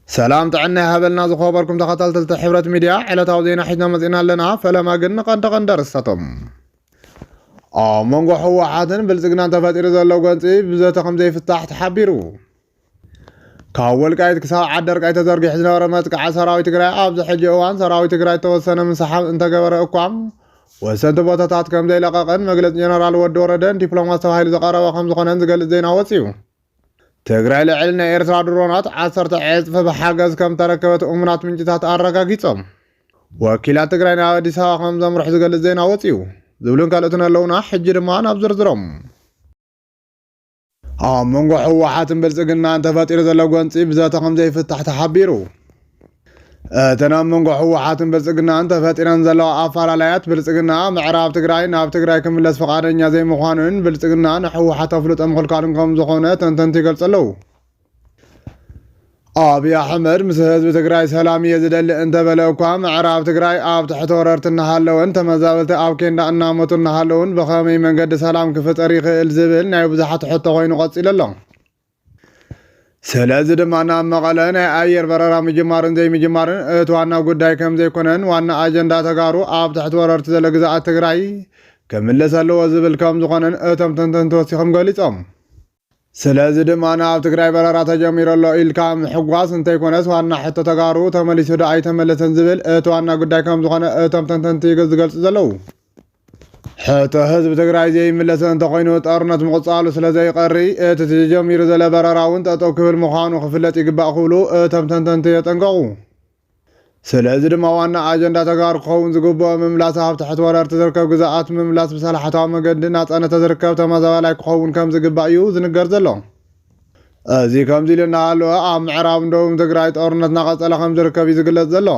ሰላም ጥዕና ይሃበልና ዝኸበርኩም ተኸታተልቲ ሕብረት ሚድያ ዕለታዊ ዜና ሒዝና መፂና ኣለና። ፈለማ ግን ንቐንዲ ቀንዲ ኣርእስታቶም ኣብ መንጎ ህወሓትን ብልፅግናን ተፈጢሩ ዘሎ ጎንፂ ብዘተ ከምዘይፍታሕ ተሓቢሩ። ካብ ወልቃይት ክሳብ ዓደርቃይ ተዘርጊሑ ዝነበረ መጥቃዕ ሰራዊት ትግራይ ኣብዚ ሕጂ እዋን ሰራዊት ትግራይ ተወሰነ ምንስሓብ እንተገበረ እኳ ወሰንቲ ቦታታት ከምዘይለቐቐን መግለፂ ጀነራል ወዲ ወረደን ዲፕሎማት ተባሂሉ ዝቐረበ ከምዝኾነን ዝገልፅ ዜና ወፂኡ። ትግራይ ልዕሊ ናይ ኤርትራ ድሮናት ዓሰርተ ዕፅፊ ብሓገዝ ከም ተረከበት እሙናት ምንጭታት ኣረጋጊፆም። ወኪላት ትግራይ ናብ ኣዲስ ኣበባ ከም ዘምርሑ ዝገልፅ ዜና ወፂኡ። ዝብሉን ካልኦትን ኣለውና። ሕጂ ድማ ናብ ዝርዝሮም። ኣብ መንጎ ህወሓትን ብልፅግናን ተፈጢሩ ዘሎ ጎንፂ ብዘተ ከም ዘይፍታሕ ተሓቢሩ። እተን ኣብ መንጎ ህወሓትን ብልፅግናን ተፈጢረን ዘለዋ ኣፈላላያት ብልፅግና ምዕራብ ትግራይ ናብ ትግራይ ክምለስ ፈቓደኛ ዘይምዃኑን ብልፅግና ንህወሓት ኣፍልጦ ምኽልካሉን ከም ዝኾነ ተንተንቲ ይገልፁ ኣለዉ። ኣብይ ኣሕመድ ምስ ህዝቢ ትግራይ ሰላም እየ ዝደሊ እንተበለ እኳ ምዕራብ ትግራይ ኣብ ትሕቲ ወረርቲ እናሃለወን ተመዛበልቲ ኣብ ኬንዳ እናሞቱ እናሃለውን ብኸመይ መንገዲ ሰላም ክፍጠር ይኽእል ዝብል ናይ ብዙሓት ሕቶ ኮይኑ ቀፂሉ ኣሎ። ስለዚ ድማ ናብ መቐለ ናይ ኣየር በረራ ምጅማርን ዘይምጅማርን እቲ ዋና ጉዳይ ከም ዘይኮነን ዋና ኣጀንዳ ተጋሩ ኣብ ትሕቲ ወረርቲ ዘሎ ግዛኣት ትግራይ ክምለስ ኣለዎ ዝብል ከም ዝኾነን እቶም ተንተንቲ ወሲኾም ገሊጾም። ስለዚ ድማ ናብ ትግራይ በረራ ተጀሚሩ ኣሎ ኢልካ ምሕጓስ እንተይኮነስ ዋና ሕቶ ተጋሩ ተመሊሱ ዶ ኣይተመለሰን ዝብል እቲ ዋና ጉዳይ ከም ዝኾነ እቶም ተንተንቲ ዝገልጹ ዘለዉ። ሕቶ ህዝቢ ትግራይ ዘይምለስ እንተኾይኑ ጦርነት ምቕፃሉ ስለዘይቐሪ እቲ ተጀሚሩ ዘሎ በረራ እውን ጠጠው ክብል ምዃኑ ክፍለጥ ይግባእ ክብሉ እቶም ተንተንቲ የጠንቀቑ። ስለዚ ድማ ዋና ኣጀንዳ ተጋሩ ክኸውን ዝግብኦ ምምላስ ኣብ ትሕቲ ወረርቲ ዝርከብ ግዝኣት ምምላስ ብሰላሕታዊ መገዲ ናፃነት ተዝርከብ ተመዛባላይ ክኸውን ከምዝግባእ እዩ ዝንገር ዘሎ። እዚ ከምዚ ኢሉ እናሃለወ ኣብ ምዕራብን ደቡብን ትግራይ ጦርነት እናቐፀለ ከምዝርከብ እዩ ዝግለፅ ዘሎ።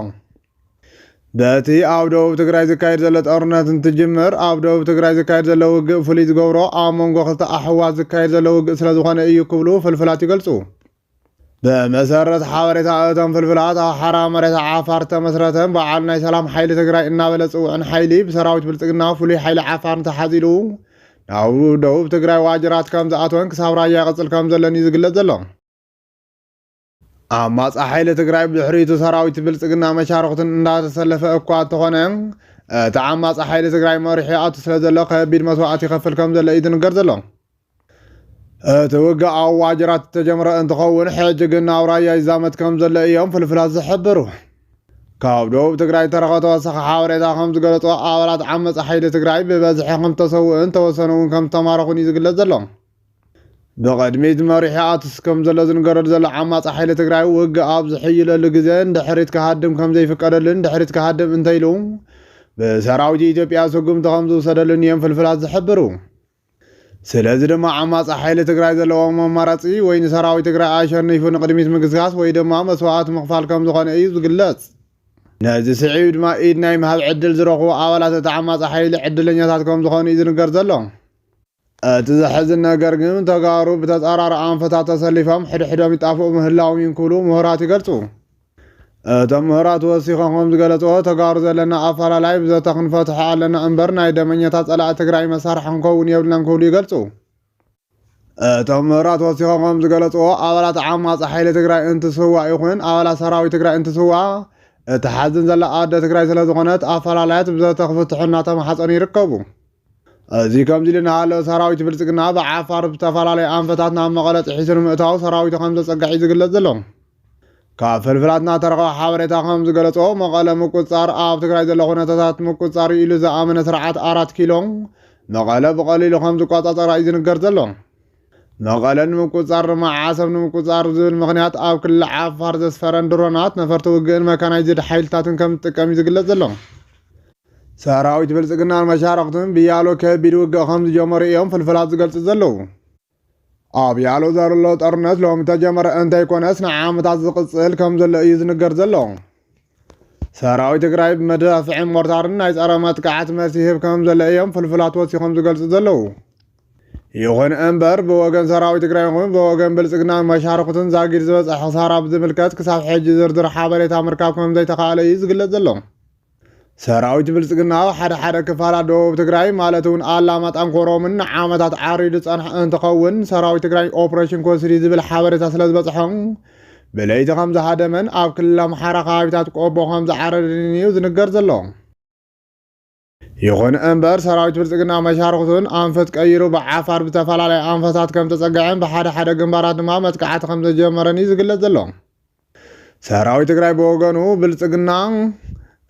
በቲ ኣብ ደቡብ ትግራይ ዝካየድ ዘሎ ጦርነት እንትጅምር ኣብ ደቡብ ትግራይ ዝካየድ ዘሎ ውግእ ፍሉይ ዝገብሮ ኣብ መንጎ ክልተ ኣሕዋት ዝካየድ ዘሎ ውግእ ስለዝኾነ እዩ ክብሉ ፍልፍላት ይገልፁ። ብመሰረት ሓበሬታ እቶም ፍልፍላት ኣብ ሓራ መሬት ዓፋር ዝተመስረተን በዓል ናይ ሰላም ሓይሊ ትግራይ እናበለ ዝፅውዕን ሓይሊ ብሰራዊት ብልፅግና ፍሉይ ሓይሊ ዓፋርን ተሓዚሉ ናብ ደቡብ ትግራይ ዋጅራት ከምዝኣተወን ክሳብ ራያ ይቕፅል ከምዘሎን እዩ ዝግለፅ ዘሎ። ኣማፃ ሓይሊ ትግራይ ብድሕሪቱ ሰራዊት ብልፅግና መሻርኽቱን እንዳተሰለፈ እኳ እንተኾነ እቲ ዓማፂ ሓይሊ ትግራይ መሪሑ ይኣቱ ስለ ዘሎ ከቢድ መስዋእቲ ይኸፍል ከም ዘሎ እዩ ዝንገር ዘሎ። እቲ ውግእ ኣብ ዋጅራት ዝተጀመረ እንትኸውን ሕጂ ግን ናብ ራያ ይዛመት ከም ዘሎ እዮም ፍልፍላት ዝሕብሩ። ካብ ደቡብ ትግራይ ዝተረኸ ተወሳኺ ሓበሬታ ከም ዝገለፆ ኣባላት ዓመፃ ሓይሊ ትግራይ ብበዝሒ ከም ዝተሰውኡን ተወሰኑ እውን ከም ዝተማረኹን እዩ ዝግለፅ ዘሎ። ብቕድሚት መሪሑ ኣትስ ከምዘሎ ዝንገረሉ ዘሎ ዓማፂ ሓይሊ ትግራይ ውግእ ኣብ ዝሕይለሉ ግዘ ንድሕሪት ክሃድም ከምዘይፍቀደሉን ንድሕሪት ክሃድም እንተይሉ ብሰራዊት ኢትዮጵያ ስጉምቲ ከምዝውሰደሉን እዮም ፍልፍላት ዝሕብሩ። ስለዚ ድማ ዓማፂ ሓይሊ ትግራይ ዘለዎም ኣማራፂ ወይ ንሰራዊት ትግራይ ኣሸኒፉ ንቕድሚት ምግስጋስ ወይ ድማ መስዋእቲ ምኽፋል ከምዝኾነ እዩ ዝግለፅ። ነዚ ስዒቡ ድማ ኢድ ናይ ምሃብ ዕድል ዝረኽቡ ኣባላት እቲ ዓማፂ ሓይሊ ዕድለኛታት ከምዝኾኑ እዩ ዝንገር ዘሎ። እቲ ዘሕዝን ነገር ግን ተጋሩ ብተፃራሪ ኣንፈታት ተሰሊፎም ሕድሕዶም ይጣፍኡ ምህላዎም እዩ እንክብሉ ምሁራት ይገልፁ። እቶም ምሁራት ወሲኾም ከምዝገለፅዎ ተጋሩ ዘለና ኣፈላላይ ብዘተ ክንፈትሖ ኣለና እምበር ናይ ደመኛታት ፀላእቲ ትግራይ መሳርሒ ክንከውን የብልናን ክብሉ ይገልፁ። እቶም ምሁራት ወሲኾም ከምዝገለፅዎ ኣባላት ዓማፂ ሓይሊ ትግራይ እንትስዋእ ይኹን ኣባላት ሰራዊት ትግራይ እንትስዋእ እትሓዝን ዘላ ኣደ ትግራይ ስለዝኾነት ኣፈላላያት ብዘተ ክፍትሑ እናተማሓፀኑ ይርከቡ። እዚ ከምዚ ኢሉ እናሃለወ ሰራዊት ብልፅግና ብዓፋር ብዝተፈላለዩ ኣንፈታት ናብ መቐለ ጥሒሱ ንምእታው ሰራዊቱ ከምዘፀግዐ እዩ ዝግለፅ ዘሎ። ካብ ፍልፍላትና እተረኽበ ሓበሬታ ከምዝገለፆ መቐለ ምቁፅፃር ኣብ ትግራይ ዘሎ ኩነታታት ምቁፅፃር እዩ ኢሉ ዝኣመነ ስርዓት ኣራት ኪሎ መቐለ ብቐሊሉ ከምዝቆፃፀራ እዩ ዝንገር ዘሎ። መቐለ ንምቁፅፃር ድማ ዓሰብ ንምቁፅፃር ዝብል ምኽንያት ኣብ ክልል ዓፋር ዘስፈረን ድሮናት፣ ነፈርቲ ውግእን መካናይዝድ ሓይልታትን ከምዝጥቀም እዩ ዝግለፅ ዘሎ። ሰራዊት ብልፅግናን መሻርኽቱን ብያሎ ከቢድ ውግእ ከም ዝጀመሩ እዮም ፍልፍላት ዝገልፁ ዘለዉ። ኣብ ያሎ ዘሎ ጦርነት ሎሚ ተጀመረ እንተይኮነስ ንዓመታት ዝቕፅል ከም ዘሎ እዩ ዝንገር ዘሎ። ሰራዊት ትግራይ ብመዳፍዕን ሞርታርን ናይ ጸረ መጥቃዕቲ መልሲ ይህብ ከም ዘሎ እዮም ፍልፍላት ወሲኾም ዝገልጹ ዘለዉ። ይኹን እምበር ብወገን ሰራዊት ትግራይ ይኹን ብወገን ብልጽግናን መሻርክቱን ዛጊድ ዝበፅሐ ክሳራ ብዝምልከት ክሳብ ሕጂ ዝርዝር ሓበሬታ ምርካብ ከም ዘይተኻእለ እዩ ዝግለጽ ዘሎ። ሰራዊት ብልፅግና ኣብ ሓደ ሓደ ክፋላት ደቡብ ትግራይ ማለት እውን ኣላማጣን ኮሮምን ንዓመታት ዓሪዱ ዝፀንሐ እንትኸውን ሰራዊት ትግራይ ኦፕሬሽን ኮስሪ ዝብል ሓበሬታ ስለ ዝበፅሖም ብለይቲ ከም ዝሃደመን ኣብ ክልል ኣምሓራ ከባቢታት ቆቦ ከም ዝዓረድን እዩ ዝንገር ዘሎ። ይኹን እምበር ሰራዊት ብልፅግና መሻርክቱን ኣንፈት ቀይሩ ብዓፋር ብዝተፈላለየ ኣንፈታት ከም ተፀገዐን ብሓደ ሓደ ግንባራት ድማ መጥቃዕቲ ከም ዘጀመረን እዩ ዝግለፅ ዘሎ። ሰራዊት ትግራይ ብወገኑ ብልፅግና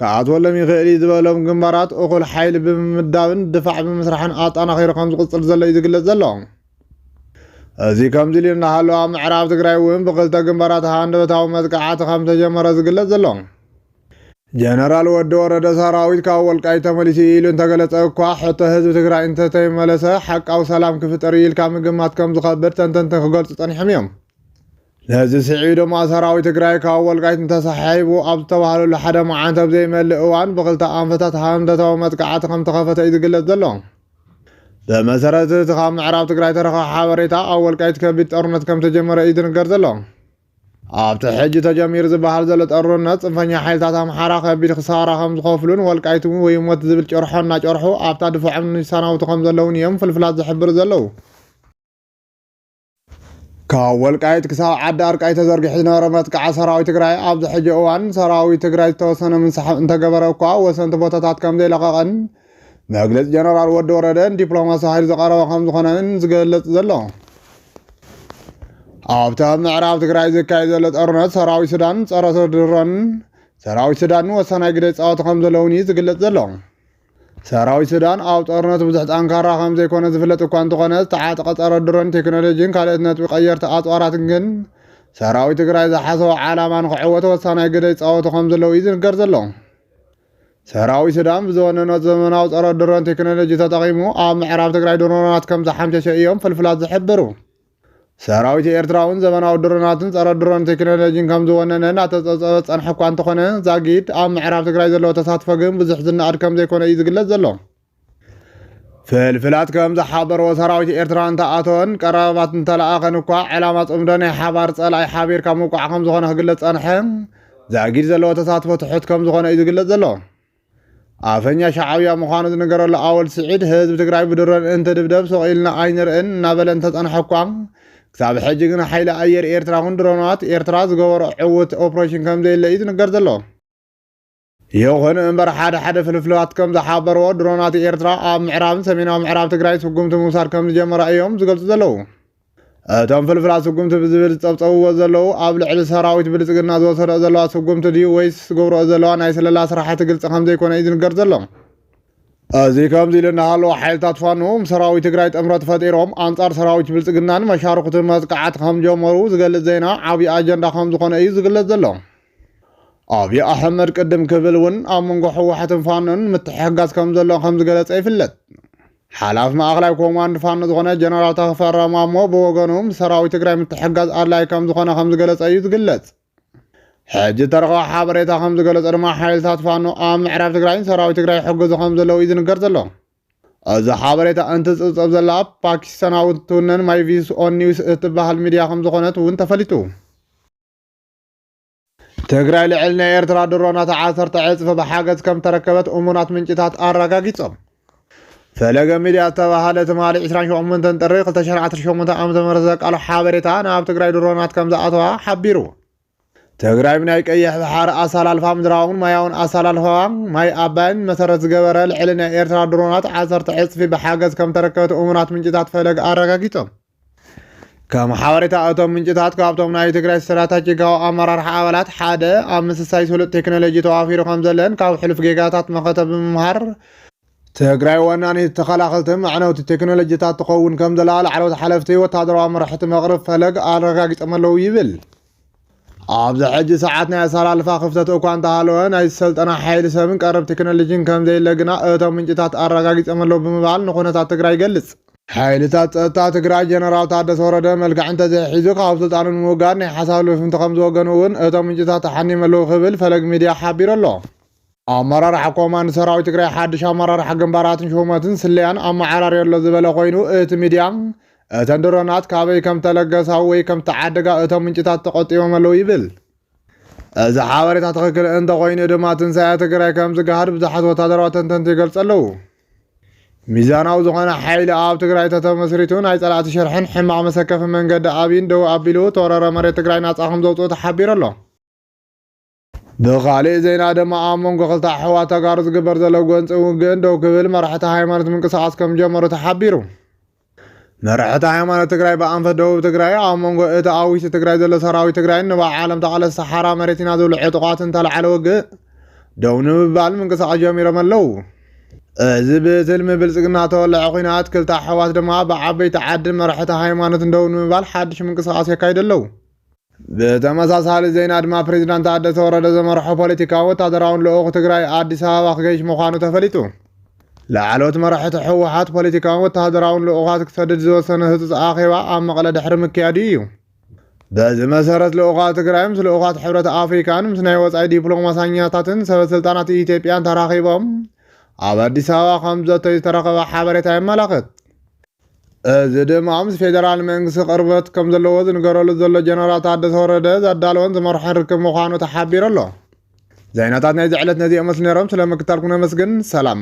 ክኣትወሎም ይኽእል እዩ ዝበሎም ግንባራት እኹል ሓይሊ ብምምዳብን ድፋዕ ብምስራሕን ኣጠናኺሩ ከም ዝቕፅል ዘሎ እዩ ዝግለፅ ዘሎ። እዚ ከምዚ ኢሉ እናሃሎ ኣብ ምዕራብ ትግራይ እውን ብክልተ ግንባራት ሃንደበታዊ መጥቃዕቲ ከም ተጀመረ ዝግለጽ ዘሎ ጀነራል ወዲ ወረደ ሰራዊት ካብ ወልቃይ ተመሊሱ ኢሉ እንተገለጸ እኳ ሕቶ ህዝቢ ትግራይ እንተተይመለሰ ሓቃዊ ሰላም ክፍጠር ኢልካ ምግማት ከም ዝኸብድ ተንተንቲ ክገልጹ ጸኒሖም እዮም። ነዚ ስዒቡ ድማ ሰራዊት ትግራይ ካብ ወልቃይት እንተሰሓሒቡ ኣብ ዝተባህለሉ ሓደ መዓልቲ ኣብ ዘይመልእ እዋን ብክልተ ኣንፈታት ሃንደታዊ መጥቃዕቲ ከምተኸፈተ እዩ ዝግለጽ ዘሎ። ብመሰረት እቲ ካብ ምዕራብ ትግራይ ተረኸ ሓበሬታ ኣብ ወልቃይት ከቢድ ጦርነት ከምተጀመረ እዩ ዝንገር ዘሎ። ኣብቲ ሕጂ ተጀሚሩ ዝበሃል ዘሎ ጠሩነት ፅንፈኛ ሓይልታት ኣምሓራ ከቢድ ክሳራ ከም ዝኸፍሉን ወልቃይት እውን ወይ ሞት ዝብል ጨርሖ እናጨርሑ ኣብታ ድፋዖም ይሰናውቱ ከም ዘለውን እዮም ፍልፍላት ዝሕብሩ ዘለዉ ካብ ወልቃይት ክሳብ ዓዲ ኣርቃይ ተዘርጊሑ ዝነበረ መጥቃዓ ሰራዊት ትግራይ ኣብዚ ሕጂ እዋን ሰራዊት ትግራይ ዝተወሰነ ምንስሓብ እንተገበረ እኳ ወሰንቲ ቦታታት ከምዘይለቐቐን መግለፂ ጀነራል ወዲ ወረደ ዲፕሎማሲ ሓይል ዝቐረበ ከምዝኾነን ዝገልፅ ዘሎ ኣብቲ ኣብ ምዕራብ ትግራይ ዝካየድ ዘሎ ጦርነት ሰራዊት ሱዳን ፀረ ድሮን ሰራዊት ሱዳን ወሳናይ ግደ ይፃወቱ ከም ዘለውን እዩ ዝግለፅ ዘሎ ሰራዊት ሱዳን ኣብ ጦርነት ብዙሕ ጠንካራ ከም ዘይኮነ ዝፍለጥ እኳ እንተኾነ ዝተዓጠቐ ጸረ ድሮን ቴክኖሎጂን ካልኦት ነጥቢ ቀየርቲ ኣጽዋራትን ግን ሰራዊት ትግራይ ዝሓሰቦ ዓላማ ንክዕወት ወሳናይ ግደ ይጻወቱ ከም ዘለዉ እዩ ዝንገር ዘሎ። ሰራዊት ሱዳን ብዝወነኖ ዘመናዊ ጸረ ድሮን ቴክኖሎጂ ተጠቒሙ ኣብ ምዕራብ ትግራይ ድሮናት ከም ዝሓምሸሸ እዮም ፍልፍላት ዝሕብሩ። ሰራዊት ኤርትራውን ዘበናዊ ድሮናትን ጸረ ድሮን ቴክኖሎጂን ከም ዝወነነ እናተጸብጸበ ዝጸንሐ እኳ እንተኾነ ዛጊድ ኣብ ምዕራብ ትግራይ ዘለዎ ተሳትፎ ግን ብዙሕ ዝነኣድ ከም ዘይኮነ እዩ ዝግለጽ ዘሎ። ፍልፍላት ከም ዝሓበርዎ ሰራዊት ኤርትራ እንተኣተወን ቀረባት እንተለኣኸን እኳ ዕላማ ጽምዶ ናይ ሓባር ጸላኢ ሓቢርካ ምውቃዕ ከም ዝኾነ ክግለጽ ጸንሐ ዛጊድ ዘለዎ ተሳትፎ ትሑት ከም ዝኾነ እዩ ዝግለጽ ዘሎ። ኣፈኛ ሻዓብያ ምዃኑ ዝንገረሉ ኣወል ስዒድ ህዝቢ ትግራይ ብድሮን እንትድብደብ ሱቕ ኢልና ኣይንርእን እናበለ እንተጸንሐ እኳ ክሳብ ሕጂ ግን ሓይሊ ኣየር ኤርትራ ኹን ድሮናት ኤርትራ ዝገበሮ ዕውት ኦፕሬሽን ከምዘየለ እዩ ዝንገር ዘሎ። ይኹን እምበር ሓደ ሓደ ፍልፍላት ከም ዝሓበርዎ ድሮናት ኤርትራ ኣብ ምዕራብን ሰሜናዊ ምዕራብ ትግራይ ስጉምቲ ምውሳድ ከም ዝጀመራ እዮም ዝገልጹ ዘለዉ። እቶም ፍልፍላት ስጉምቲ ብዝብል ዝፀብፀብዎ ዘለዉ ኣብ ልዕሊ ሰራዊት ብልፅግና ዝወሰደኦ ዘለዋ ስጉምቲ ድዩ ወይስ ዝገብረኦ ዘለዋ ናይ ስለላ ስራሕቲ ግልፂ ከምዘይኮነ እዩ ዝንገር ዘሎ። እዚ ከምዚ ኢሉ እናሃለወ ሓይልታት ፋኖ ምስ ሰራዊት ትግራይ ጥምረት ፈጢሮም ኣንጻር ሰራዊት ብልጽግናን መሻርኹትን መጥቃዕቲ ከም ጀመሩ ዝገልጽ ዜና ዓብዪ ኣጀንዳ ከም ዝኾነ እዩ ዝግለጽ ዘሎ። ኣብዪ ኣሕመድ ቅድም ክብል እውን ኣብ መንጎ ህወሓትን ፋኖን ምትሕግጋዝ ከም ዘሎ ከም ዝገለጸ ይፍለጥ። ሓላፊ ማእኸላይ ኮማንድ ፋኖ ዝኾነ ጀነራል ተፈራ ማሞ ብወገኑ ምስ ሰራዊት ትግራይ ምትሕግጋዝ ኣድላዪ ከም ዝኾነ ከም ዝገለጸ እዩ ዝግለጽ። ሕጂ እተረኸበ ሓበሬታ ከም ዝገለጾ ድማ ሓይልታት ፋኖ ኣብ ምዕራብ ትግራይ ሰራዊት ትግራይ ይሕግዙ ከም ዘለዉ እዩ ዝንገር ዘሎ። እዚ ሓበሬታ እንትጽብጸብ ዘላ ፓኪስታናዊት ትውነን ማይቪስ ኦን ኒውስ እትበሃል ሚድያ ከም ዝኾነት እውን ተፈሊጡ። ትግራይ ልዕሊ ናይ ኤርትራ ድሮናት ዓሰርተ ዕፅፊ ብሓገዝ ከም ተረከበት እሙናት ምንጭታት ኣረጋጊፆም። ፈለገ ሚድያ ዝተባሃለ ትማሊ 28 ጥሪ 2018 ዓ.ም ዘቃሎ ሓበሬታ ናብ ትግራይ ድሮናት ከም ዝኣተዋ ሓቢሩ። ትግራይ ብናይ ቀይሕ ባሕሪ ኣሰላልፋ ምድራውን ማያውን ኣሰላልፋ ማይ ኣባይን መሰረት ዝገበረ ልዕሊ ናይ ኤርትራ ድሮናት ዓሰርተ ዕፅፊ ብሓገዝ ከም ተረከበት እሙናት ምንጭታት ፈለግ ኣረጋጊፆም። ከም ሓበሬታ እቶም ምንጭታት ካብቶም ናይ ትግራይ ስትራታጂካዊ ኣመራርሓ ኣባላት ሓደ ኣብ ምስሳይ ስሉጥ ቴክኖሎጂ ተዋፊሩ ከም ዘለን ካብ ሕሉፍ ጌጋታት መኸተ ብምምሃር ትግራይ ወናኒት ተኸላኸልቲ መዕነውቲ ቴክኖሎጂታት ትኸውን ከም ዘላ ላዕለዎት ሓለፍቲ ወታደራዊ ኣመራሕቲ መቕርብ ፈለግ ኣረጋጊጾም ኣለዉ ይብል። ኣብዚ ሕጂ ሰዓት ናይ ኣሰላልፋ ክፍተት እኳ እንተሃለወ ናይ ዝሰልጠነ ሓይሊ ሰብን ቀረብ ቴክኖሎጂን ከምዘየለ ግና እቶም ምንጭታት ኣረጋጊፆም ኣለዉ ብምባል ንኩነታት ትግራይ ይገልፅ። ሓይልታት ፀጥታ ትግራይ ጀነራል ታደሰ ወረደ መልክዕ እንተዘይሒዙ ካብ ስልጣኑ ንምውጋድ ናይ ሓሳብ ልፍፍንቲ ከምዝወገኑ እውን እቶም ምንጭታት ኣሓኒዮም ኣለዉ ክብል ፈለግ ሚድያ ሓቢሩ ኣሎ። ኣመራርሓ ኮማንድ ሰራዊት ትግራይ ሓድሽ ኣመራርሓ ግንባራትን ሹመትን ስለያን ኣመዓራርዮ ኣሎ ዝበለ ኮይኑ እቲ ሚድያ እተን ድሮናት ካበይ ከም ተለገሳ ወይ ከም ተዓደጋ እቶም ምንጭታት ተቖጢቦም ኣለዉ ይብል። እዚ ሓበሬታ ትኽክል እንተኾይኑ ድማ ትንሳኤ ትግራይ ከም ዝገሃድ ብዙሓት ወታደራዊ ተንተንቲ ይገልጹ ኣለዉ። ሚዛናዊ ዝኾነ ሓይሊ ኣብ ትግራይ ተተመስሪቱ ናይ ጸላእቲ ሽርሕን ሕማቕ መሰከፊ መንገዲ ኣብይን ደው ኣቢሉ ተወረረ መሬት ትግራይ ናጻ ከም ዘውጽኡ ተሓቢሩ ኣሎ። ብኻሊእ ዜና ድማ ኣብ መንጎ ክልተ ኣሕዋት ተጋሩ ዝግበር ዘሎ ጎንፂ ውግእን ደው ክብል መራሕቲ ሃይማኖት ምንቅስቓስ ከምጀመሩ ተሓቢሩ። መራሕቲ ሃይማኖት ትግራይ ብኣንፈት ደቡብ ትግራይ ኣብ መንጎ እቲ ኣብ ውሽጢ ትግራይ ዘሎ ሰራዊት ትግራይን ንባዕዓሎም ተቓለስቲ ሓራ መሬት ኢና ዝብሉ ዕጡቓትን ዝተላዕለ ውግእ ደው ንምባል ምንቅስቓስ ጀሚሮም ኣለዉ። እዚ ብትልሚ ብልፅግና ተወለዐ ኩናት ክልተ ኣሕዋት ድማ ብዓበይቲ ዓድን መራሕቲ ሃይማኖትን ደው ንምባል ሓድሽ ምንቅስቓስ የካይዱ ኣለዉ። ብተመሳሳሊ ዜና ድማ ፕሬዚዳንት ታደሰ ወረደ ዘመርሖ ፖለቲካዊ ወታደራውን ልኡኽ ትግራይ ኣዲስ ኣበባ ክገይሽ ምዃኑ ተፈሊጡ። ላዕለዎት መራሕቲ ህወሓት ፖለቲካውን ወታደራውን ልኡኻት ክሰድድ ዝወሰነ ህፁፅ ኣኼባ ኣብ መቐለ ድሕሪ ምክያዱ እዩ። በዚ መሰረት ልኡኻት ትግራይ ምስ ልኡኻት ሕብረት ኣፍሪካን ምስ ናይ ወፃኢ ዲፕሎማሳኛታትን ሰበስልጣናት ኢትዮጵያን ተራኺቦም ኣብ ኣዲስ ኣበባ ከም ዘተዩ ዝተረኸበ ሓበሬታ የመላኽት። እዚ ድማ ምስ ፌደራል መንግስቲ ቅርበት ከምዘለዎ ዝንገረሉ ዘሎ ጀነራል ታደሰ ወረደ ዘዳለዎን ዝመርሖን ርክብ ምዃኑ ተሓቢሩ ኣሎ። ዜናታት ናይዚ ዕለት ነዚኦም መስሉ ነይሮም። ስለምክታልኩም ነመስግን። ሰላም።